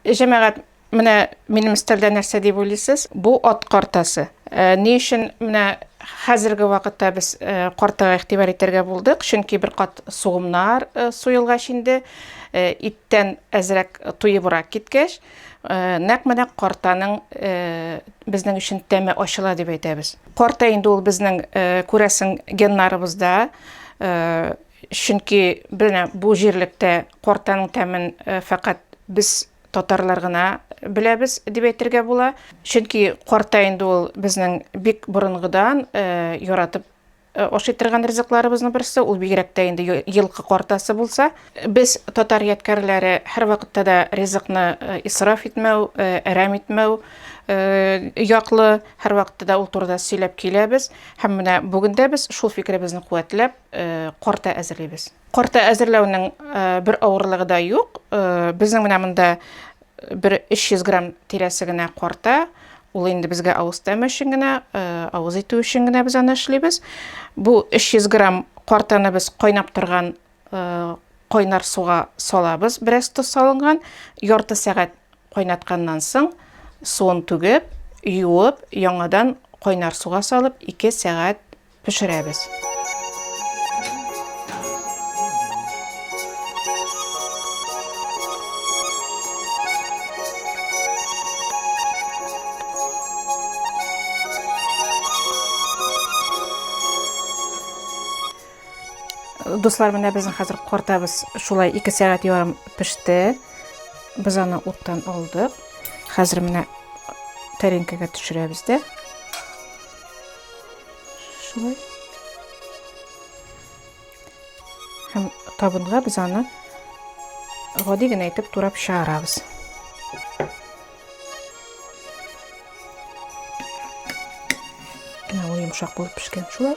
Җәмәгать, менә минем стелдә нәрсә дип уйлыйсыз? Бу ат картасы. Э, ни өчен менә хәзерге вакытта без э, картага игътибар итәргә булдык? Чөнки бер кат сугымнар э, суелгач инде, иттән әзрәк туебрак киткәч, нәкъ менә картаның безнең өчен тәме ачыла дип әйтәбез. Карта инде ул безнең күрәсең геннарыбызда Чөнки менә бу җирлектә картаның тәмен фәкать без татарлар гына беләбез дип әйтергә була. Чөнки карта инде ул безнең бик борынгыдан яратып ашый торган ризыкларыбызның берсе, ул бигрәк тә инде елкы картасы булса. Без татар ядкәрләре һәрвакытта да ризыкны исраф итмәү, әрәм итмәү яклы, һәрвакытта да ул турыда сөйләп киләбез. Һәм менә бүген дә без шул фикеребезне куәтләп, корта әзерлибез. Корта әзерләүнең бер авырлыгы да юк. Безнең менә монда бер 300 грамм тирәсе генә корта. Ул инде безгә авыз тәме өчен генә, авыз итү өчен генә без аны эшлибез. Бу 300 грамм кортаны без кайнап торган кайнар суга салабыз, бераз тоз салынган. Ярты сәгать кайнатканнан соң суын түгеп, юып, яңадан кайнар суга салып, 2 сәгать Пешерәбез. Дуслар, менә безнең хәзер картабыз шулай 2 сәгать ярым пеште. Без аны уттан алдык. Хәзер менә тәренкәгә төшерәбез дә. Шулай. Һәм табынга без аны гади генә итеп турап чыгарабыз. Менә ул йомшак булып пешкән шулай.